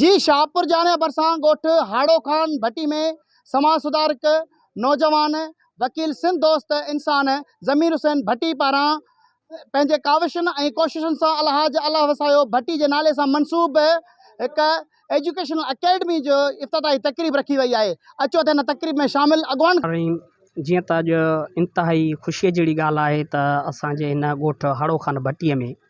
جي شاهپور جاڻي ڀرسان ڳوٺ هاڙو خان ڀٽي ۾ سماج سڌارڪ، نوجوان، وڪيل سنڌ دوست انسان ضمير حسين ڀٽي پاران پنهنجي ڪاوشن ۽ ڪوششن سان الحاج الله وسايو ڀٽي جي نالي سان منسوب هڪ ايجوڪيشنل اڪيڊمي جي افتتاحي تقريب رکي وئي آهي اچو ته هن تقريب ۾ شامل اڳواڻ الرحيم جيئن ته اڄ انتهائي خوشي جهڙي ڳالهه آهي ته اسان جي هن ڳوٺ هاڙو خان ڀٽي ۾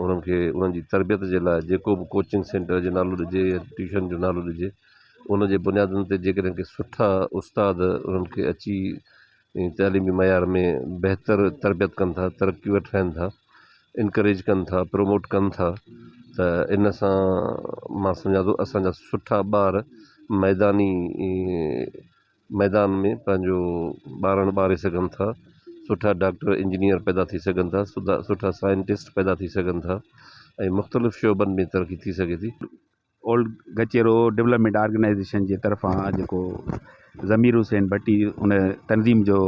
انهن کي انهن جي تربيت جي لاء جيڪو به ڪوچنگ سينٽر جو نالو ڏجي يا ٽيوشن جو نالو ڏجي ان جي بنيادن تي جي ڪڏهن ڪي سٺا استاد انهن کي اچي تعليمي معيار ۾ بهتر تربيت ڪن ٿا ترقي وٺرائن ٿا انڪريج ڪن ٿا پروموٽ ڪن ٿا ته ان سان مان سمجهان ٿو اسان جا سٺا ٻار ميداني ميدان ۾ پنهنجو ٻارڻ ٻاري سگهن ٿا، سٺا ڊاڪٽر، انجنيئر پيدا ٿي سگهن ٿا، سٺا سائنٽسٽ پيدا ٿي سگهن ٿا ۽ مختلف شعبن ۾ ترقي ٿي سگهي ٿي. اولڊ گچيرو ڊولپمينٽ آرگنائيزيشن جي طرفان جيڪو ضمير حسين ڀٽي ان تنظيم جو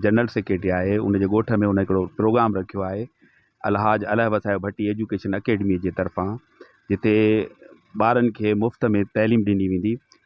جنرل سيڪريٽري آهي ان جي ڳوٺ ۾ ان هڪڙو پروگرام رکيو آهي الحاج الهه وسايو ڀٽي ايجوڪيشن اڪيڊمي جي طرفان جتي ٻارن کي مفت ۾ تعليم ڏني ويندي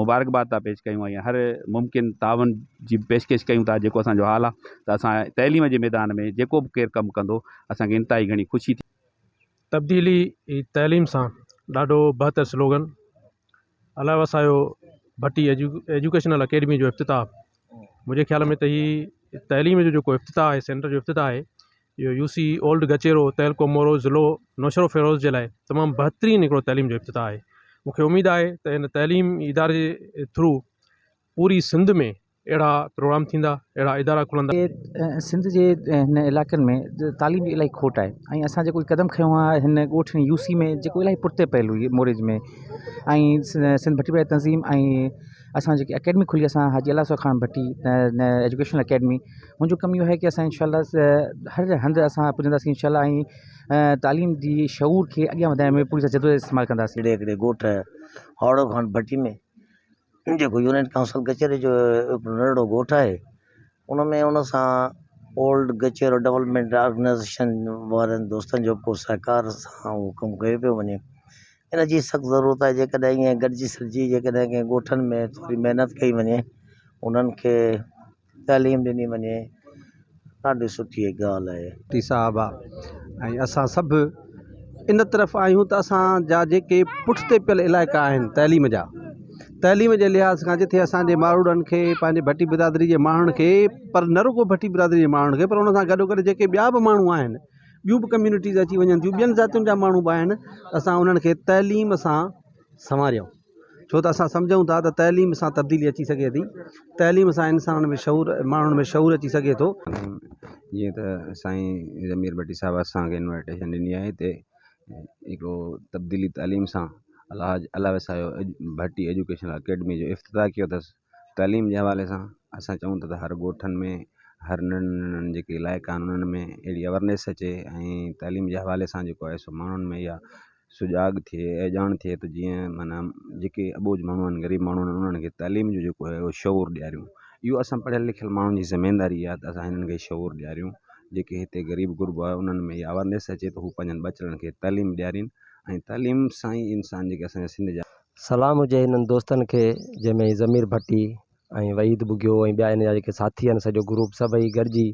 مبارڪباد ٿا پيش ڪيون ۽ هر ممڪن تعاون جي پيشڪش ڪيون ٿا جيڪو اسان جو حال آهي ته اسان تعليم جي ميدان ۾ جيڪو به ڪير ڪم ڪندو اسان کي انتهائي گهڻي خوشي ٿيندي. تبديلي ئي تعليم سان ڏاڍو بهتر سلوگن علائي وسايو ڀٽي ايجوڪيشنل اڪيڊمي جو افتتاح منهنجي خيال ۾ ته هي تعليم جو جيڪو افتتاح آهي سينٽر جو افتتاح آهي اهو يو سي اولڊ گچيرو تعلقو مورو ضلعو نوشهرو فيروز جي لاء تمام بهترين هڪڙو تعليم جو افتتاح آهي مونکي اميد آهي ته هن تعليم اداري جي ٿرو پوري سنڌ ۾ اهڙا پروگرام ٿيندا اهڙا ادارا کلندا. سنڌ جي هن علائقن ۾ تعليم جي الاهي کوٽ آهي ۽ اسان جيڪو هي قدم کنيو آهي هن ڳوٺ يو سي ۾ جيڪو الاهي پرتي پيل هئي موريج ۾ ۽ سنڌ ڀٽي پرائي تنظيم ۽ اسان جيڪي اڪيڊمي کلي اسان حاجي الاهو خان ڀٽي ايجوڪيشنل اڪيڊمي منهنجو ڪم اهو آهي ڪي اسان انشاء الله هر هنڌ اسان پڄنداسين انشاء الله ۽ تعليم جي شعور کي اڳيان وڌائڻ ۾ پوري طرح جدوجهد استعمال ڪنداسين هڪڙي هڪڙي ڳوٺ هاڙو خان ڀٽي ۾ جيڪو يونين ڪائونسل ڪچهري جو هڪڙو ننڍڙو ڳوٺ آهي ان ۾ ان سان اولڊ ڪچهرو ڊولپمينٽ آرگنائيزيشن وارن دوستن جو ڪو سهڪار سان اهو ڪم ڪيو پيو وڃي ان جي سخت ضرورت آهي جيڪڏهن ائين گڏجي سڏجي جيڪڏهن ڪنهن ڳوٺن ۾ ٿوري محنت ڪئي وڃي انهن کي تعليم ڏني وڃي ڏاڍي سٺي ڳالهه آهي. مفتي صاحب ۽ اسان سڀ ان طرف آهيون ته اسان جا جيڪي پٺتي پيل علائقا آهن تعليم جا تعليم جي لحاظ کان جتي اسانجي ماروئڙن کي پنهنجي ڀٽي برادري جي ماڻهن کي پر نه رڳو ڀٽي برادري جي ماڻهن کي پر ان سان گڏو گڏ جيڪي ٻيا به ماڻهو آهن ٻيون به ڪميونٽيز اچي وڃن ٿيون ٻين ذاتين جا ماڻهو به آهن اسان انهن کي تعليم سان سنواريو ڇو ته اسان سمجهون ٿا ته تعليم سان تبديلي اچي سگهي ٿي تعليم سان انسان ۾ شعور ماڻهن ۾ شعور اچي سگهي ٿو جيئن ته سائين ضمير ڀٽي صاحب اسانکي انوائٽيشن ڏني آهي هتي هڪڙو تبديلي تعليم سان الاهج الاهه وسايو ڀٽي ايجوڪيشنل اڪيڊمي جو افتتاح ڪيو اٿس تعليم جي حوالي سان اسان چئون ٿا ته هر ڳوٺن ۾ هر ننڍن ننڍن جيڪي علائقا آهن انهن ۾ اهڙي اويرنيس اچي ۽ تعليم جي حوالي سان جيڪو آهي سو ماڻهن ۾ اها سجاڳ ٿئي ۽ ڄاڻ ٿئي ته جيئن معنيٰ جيڪي اٻوجهه ماڻهو آهن غريب ماڻهو آهن انهن کي تعليم جو جيڪو آهي شعور ڏياريون اهو اسان پڙهيل لکيل ماڻهن جي ذميواري آهي ته اسان هنن کي شعور ڏياريون جيڪي هتي غريب غربو آهي انهن ۾ اها اويرنيس اچي ته هو پنهنجن ٻچڙن کي تعليم ڏيارين ۽ تعليم سان ئي انسان جيڪي اسان جا سنڌ جا سلام هجي هنن دوستن کي جنهن ۾ ضمير ڀٽي ۽ وحيد ٻگهيو ۽ ٻيا هن جا جيڪي ساٿي آهن سڄو گروپ سڀئي گڏجي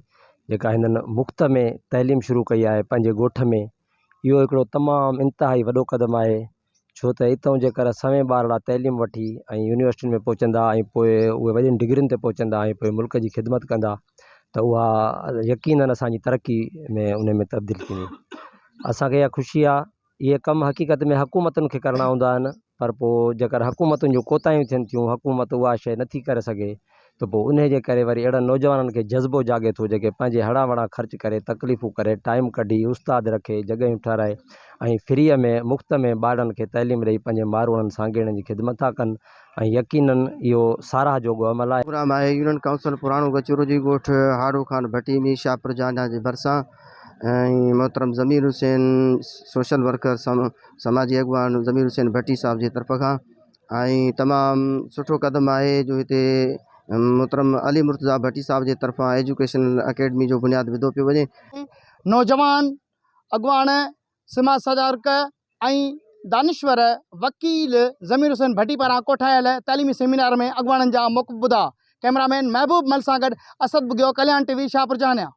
جيڪا هنن مفت ۾ تعليم شروع ڪئي آهي پنهنجي ڳوٺ ۾ اهو هڪڙو تمام انتهائي وڏو قدم آهي ڇو ته اتئون جيڪر سوين ٻارڙا تعليم وٺي ۽ يونيورسٽين ۾ پهچندا ۽ پوء اهي وڏين ڊگرين تي پهچندا ۽ پوء ملڪ جي خدمت ڪندا ته اها يقينن اسان جي ترقي ۾ ان ۾ تبديل ٿيندي اسان کي اها خوشي آهي اهي ڪم حقيقت ۾ حڪومتن کي ڪرڻا هوندا آهن پر پوء جيڪر حڪومتن جون ڪوتاهيون ٿين ٿيون حڪومت اها شيء نٿي ڪري سگهي ته پوء انهي جي ڪري وري اهڙن نوجوانن کي جذبو جاڳي ٿو جيڪي پنهنجي هڙان وڙان خرچ ڪري تڪليفون ڪري ٽائيم ڪڍي استاد رکي جڳهيون ٺهرائي ۽ فريء ۾ مفت ۾ ٻارڙن کي تعليم ڏئي پنهنجي ماروئڙن سانگيئڙن جي خدمت ٿا ڪن ۽ يقينن اهو ساراهه جوڳو عمل آهي. پروگرام آهي يونين ڪائونسل پراڻو گچورو جي ڳوٺ هاڙو خان ڀٽي ۾ شاهپور جانڍان جي ڀرسان ۽ محترم ضمير حسين سوشل ورڪر سماجي اڳواڻ ضمير حسين ڀٽي صاحب جي طرف کان ۽ تمام سٺو قدم آهي جو هتي محترم علي مرتضا ڀٽي صاحب جي طرفان ايجوڪيشنل اڪيڊمي جو بنياد وڌو پيو وڃي نوجوان اڳواڻ سماج سجارڪ ۽ دانشور وڪيل ضمير حسين ڀٽي پاران ڪوٺايل تعليمي سيمينار ۾ اڳواڻن جا موقف ٻڌا ڪئميرا مين محبوب مل سان گڏ اسد بگيو ڪليان ٽي وي شاهپور جهانيان.